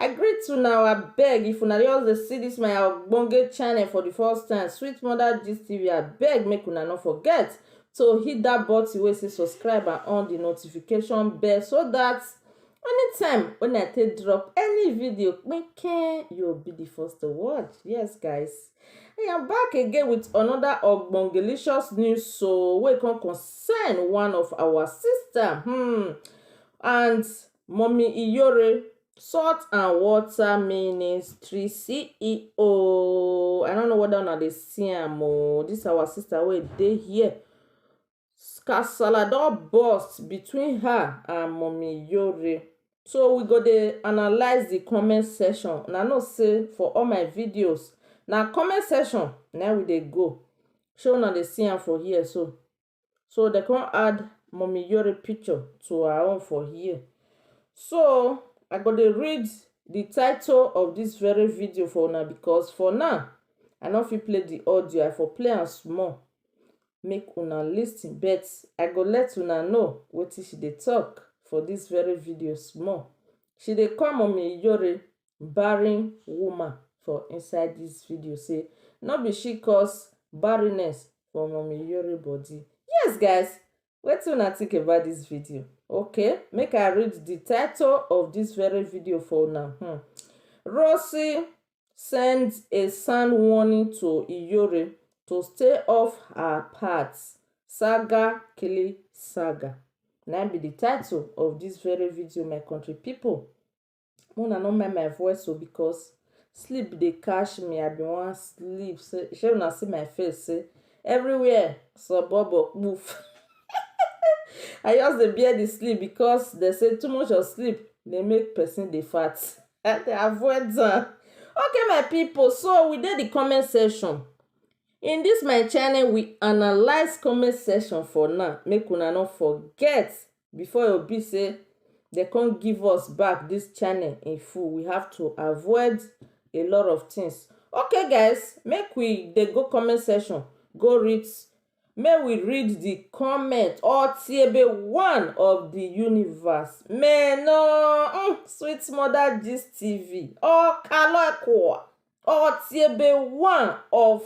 I greet una o abeg if una just dey see this my ogbonge channel for the first time sweet mother gist tv abeg make una no forget to hit that button wey say subscribe and on the notification bell so that anytime when I take drop any video kpinkin you will be the first to watch yes guys I am back again with another ogbongelicious news so wey come concern one of our sister hmm and Mummy Iyore, Salt and Water Ministry CEO. I don't know whether una dey see am o. This our sister wey dey here. Kasala don burst between her and Mummy Iyore. So we go dey analyse the comment section. Una know say for all my videos, na comment section na we dey go. Shey una dey see am for here so. So dem come add Mummy Yori picture to her own for here. So I go dey read the title of this very video for una because for now, I no fit play the audio. I for play am small make una listen but I go let una know wetin she dey talk for this very video small. She dey call Mummy Yori barren woman for inside this video say no be she cause barrenness for mummy Yori body. Yes guys, wetin una think about this video? Okay, make I read the title of this very video for una. Hmm. Rossy sends a sound warning to Iyori to stay off her path. Saga Kili Saga. Now be the title of this very video, my country people. una no mind my voice o because sleep dey catch me i bin wan sleep say shey una see my face say everywhere sobobo kpoof i just dey bear the sleep because dem say too much of sleep dey make person dey fat i dey avoid am okay my people so we dey the comment section in this my channel we analyse comment section for now make una no forget before e be sey dem come give us back this channel in full we have to avoid a lot of things okay guys make we dey go comment section go read make we read the comment or tiebe one of the universe meno mm, sweet mother gist tv ọkalọ ẹkọ Ọtiebe one of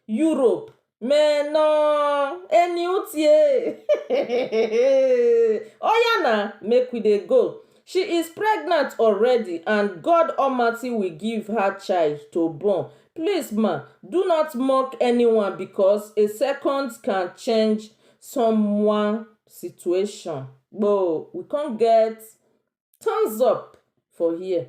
Europe me no eni utie. Oya na, make we dey go. She is pregnant already and God Almighty will give her child to born. Please ma, do not mock anyone because a second can change someone situation. Gboo, we come get thumbs up for here.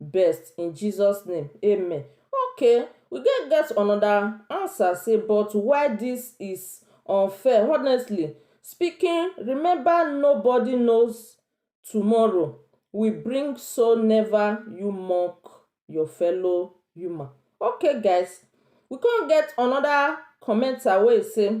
best in Jesus name amen okay we get get another answer say but why this is unfair honestly speaking remember nobody knows tomorrow we bring so never you mock your fellow human okay guys we come get another commenter wey say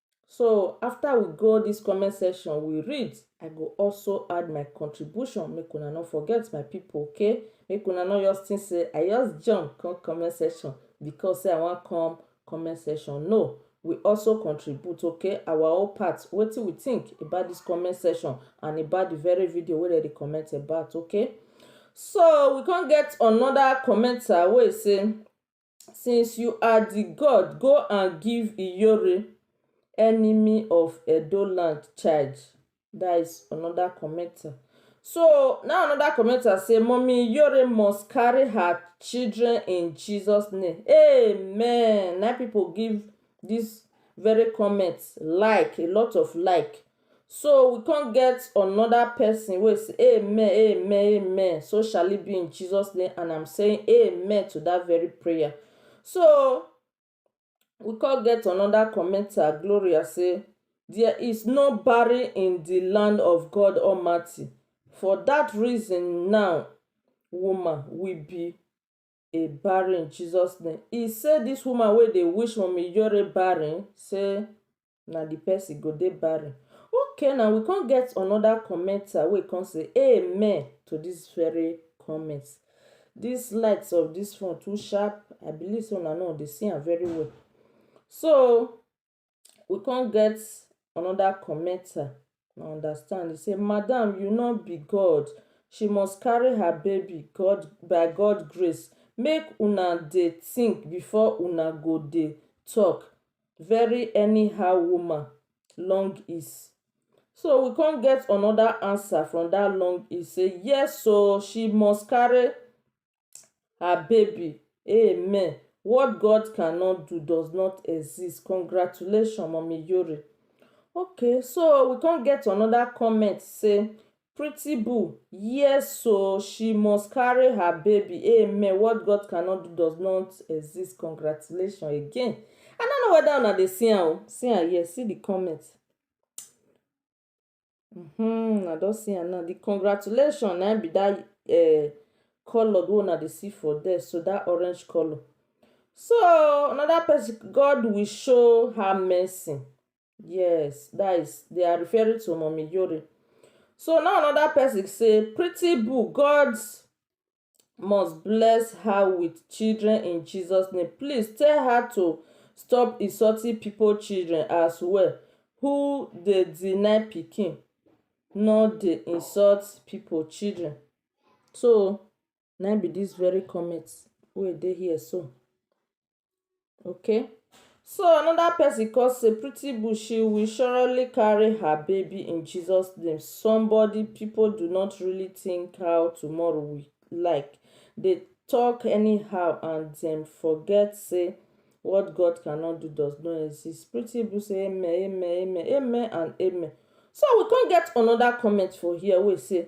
So after we go this comment section, we read, I go also add my contribution. Make una no forget my people, okay? Make una no just think say I just jump come comment section because say I wan come comment section. No, we also contribute, okay? Our own part, wetin we think about this comment section and about the very video wey dem dey comment about, okay? So we come get another commenter wey say since you are the god go and give iyore enemy of edo land child that is another commenter so now another commenter say mommy iyore must carry her children in jesus name amen na people give this very comment like a lot of like So we come get another person wey say amen amen amen so shall it be in Jesus name and I'm saying amen to that very prayer. So we come get another commenter Gloria say there is no barren in the land of God Almighty for that reason now woman we be a barren in Jesus name. He say this woman wey dey wish Mummy Ijore barren say na the person go dey barren. Okay now we come get another commenter wey come say amen to this very comment. This light of this phone too sharp. I believe say una no dey see am very well. So we come get another commenter I understand. He say, Madam, you no be God. She must carry her baby God by God grace. Make una dey think before una go dey talk. Very anyhow woman, long is. So we come get another answer from that long is say, yes so she must carry her baby amen what God cannot do does not exist congratulations mummy yori okay so we come get another comment say pretty boo yes so she must carry her baby amen what God cannot do does not exist congratulations again I don't know whether una dey see am o see am here see the comment Hmm, I don see am now. The congratulation na be that uh, color wey una dey see for there, so that orange color. So another person, God will show her mercy. Yes, that is they are referring to Mommy Yori. So now another person say, Pretty Boo, God's must bless her with children in Jesus name please tell her to stop insulting people children as well who dey deny pikin no dey insult people children so na im be this very comment wey dey here so. Okay so another person come say pretty boo she will surely carry her baby in Jesus name somebody people do not really think how tomorrow will like they talk anyhow and dem forget say what God cannot do does not exist pretty boo say amen amen amen amen and amen so we come get another comment for here wey say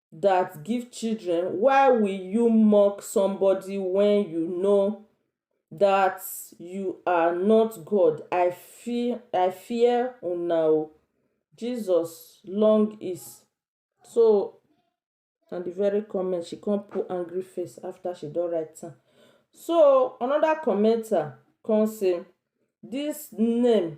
dat give children why will you mock somebody wen you know dat you are not God I fear I fear una oo Jesus long is so na the very comment she come put angry face after she don write am so another commenter come say this name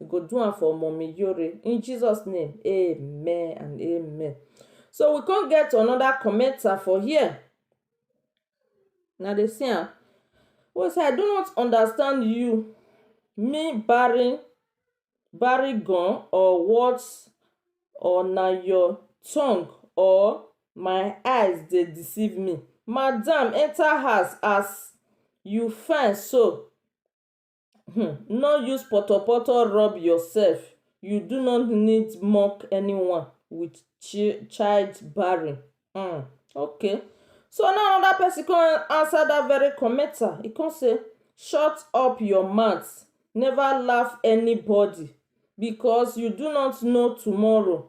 you go do am for mommy yore in jesus name amen and amen so we come get another commenter for here na dey see am wey say i do not understand you me barren barry gun or what or na your tongue or my eyes dey deceive me madam enter house as you fine so um no use potopoto rub yourself you do not need mock anyone with chi child barren um okay so now another person come answer that very commenter he come say shut up your mouth never laugh anybody because you do not know tomorrow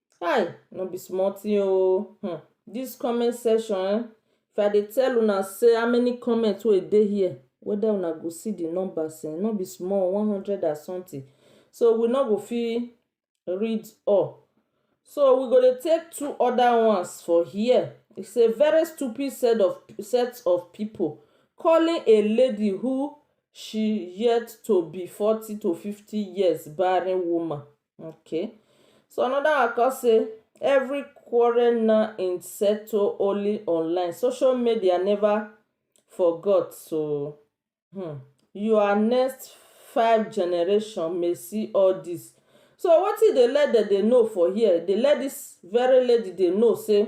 Kai no be small thing oh hmm. This comment section eh, if I dey tell una say how many comments wey dey here, whether una go see the numbers eh, no be small, one hundred and something. So we no go fit read all. So we go dey take two other ones for here. He say very stupid set of set of people calling a lady who she yet to be forty to fifty years barren woman Okay. So another one come say every quarrel na in settle only online. Social media never forgot so hmm. you are next five generation may see all this. So wetin dey let dem dey know for here, dey let this very lady dey know say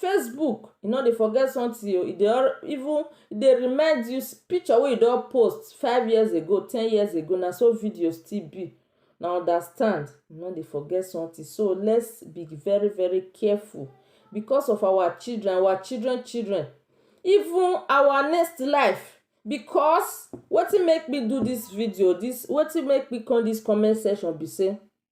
Facebook e no dey forget something oh, e dey even e dey remind you picture wey you don post five years ago, ten years ago na so video still be na understand e no dey forget something so let's be very very careful because of our children, our children children even our next life because wetin make me do this video, wetin make me come this comment section be sey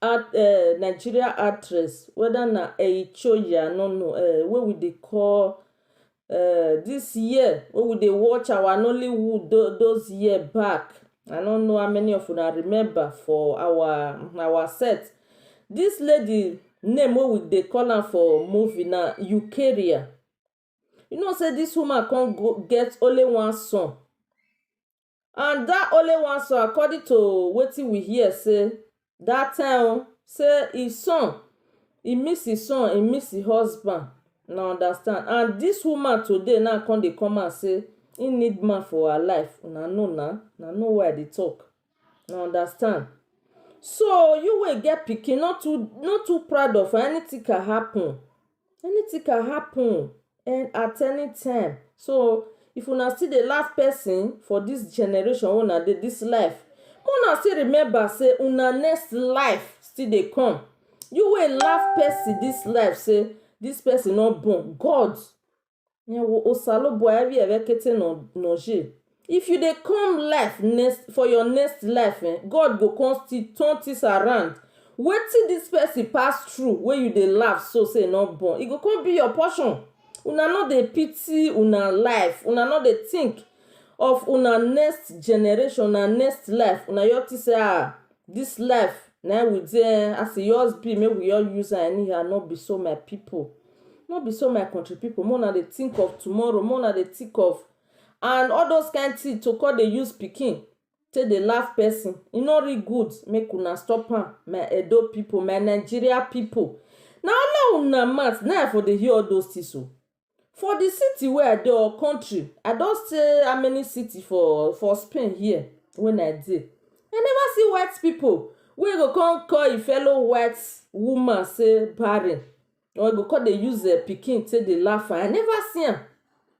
art eh, Nigeria actress, whether na Eichoya, no no, eh, wey we dey call eh, this year, wey we dey watch our Nollywood tho- those year back. I no know how many of una remember for our our set. This lady name wey we dey call am for movie na Eukaria. You know sey dis woman con go get only one son and dat only one son according to wetin we hear sey dat time o sey im son e miss im son e miss im husband una understand and dis woman today now con dey come out sey im need man for her life una know na una know who I dey talk una understand so you wey get pikin no too no too proud of anything can happen anything can happen at any time so if una still dey laugh person for this generation wey una dey this life make una still remember say una next life still dey come you wey laugh person this life say this person no born God Nẹ wo Osalobua ẹvwiẹ vwẹ ekete nọ nọ je. If you dey come life next for your next life eh God go come still turn things around wetin this person pass through wey you dey laugh so say e no born e go come be your portion una no dey pity una life una no dey think of una next generation una next life una just think say ah this life na we dey as e just be make we just use am anyhow no be so my people. No be so my country people make una dey think of tomorrow make una dey think of and all those kind thing to come dey use pikin take dey laugh person e no really good make una stop am my Edo people my Nigeria people na only una mouth na I for dey hear all those things oo for the city wey I dey or country I don stay how many city for for Spain here wey I dey I never see white people wey go come call e fellow white woman say barren or you go come dey use eh, pikin take dey laugh I never see am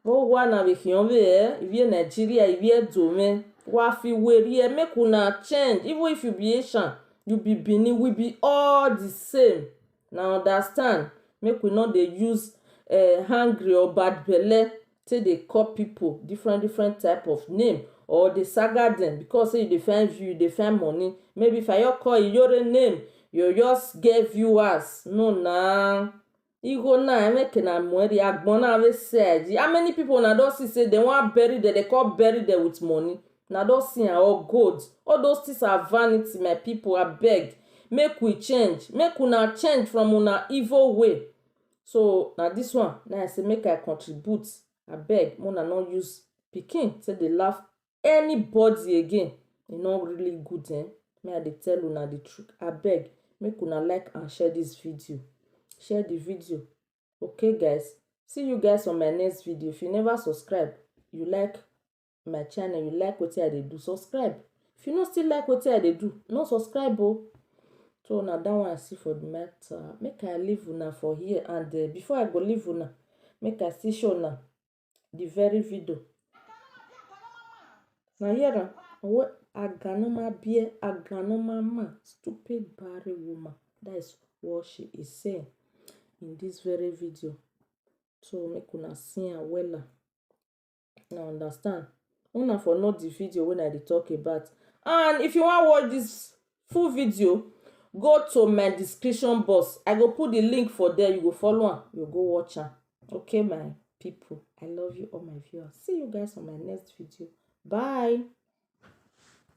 mo wa na we hion we eh we Nigeria we dome wa fi we ri make una change even if you be Asian you be Benin we be all the same na understand make we no dey use eh hungry or bad belle take dey call pipu different different type of name or dey saga dem because sey you dey find view, you dey find money. Maybe if I just call Iyore name, you go just get viewers. No na. Igho na, make una muedi, agbon na wey sell. How many pipu una don see sey dem wan bury dem, dem con bury dem with money? Una don see am or gold. All those things are vanity my pipu. Abeg make we change. Make una change from una evil way. So na this one na I say make I contribute abeg make una no use pikin take dey laugh anybody again e no really good eh me I dey tell una the truth abeg make una like and share this video share the video okay guys see you guys on my next video if you never subscribe you like my channel you like wetin i dey do subscribe if you no still like wetin i dey do no subscribe o so na that one i see for the matter make i leave una for here and uh, before i go leave una make i still show una the very video na here na owo aganoma bear aganoma man stupid barren woman that is what she is saying in this very video so make una see am wella. una understand una for know the video wey i dey talk about and if you wan watch this full video go to my description box i go put the link for there you go follow am you go watch am okay my people i love you all my viewers see you guys on my next video bye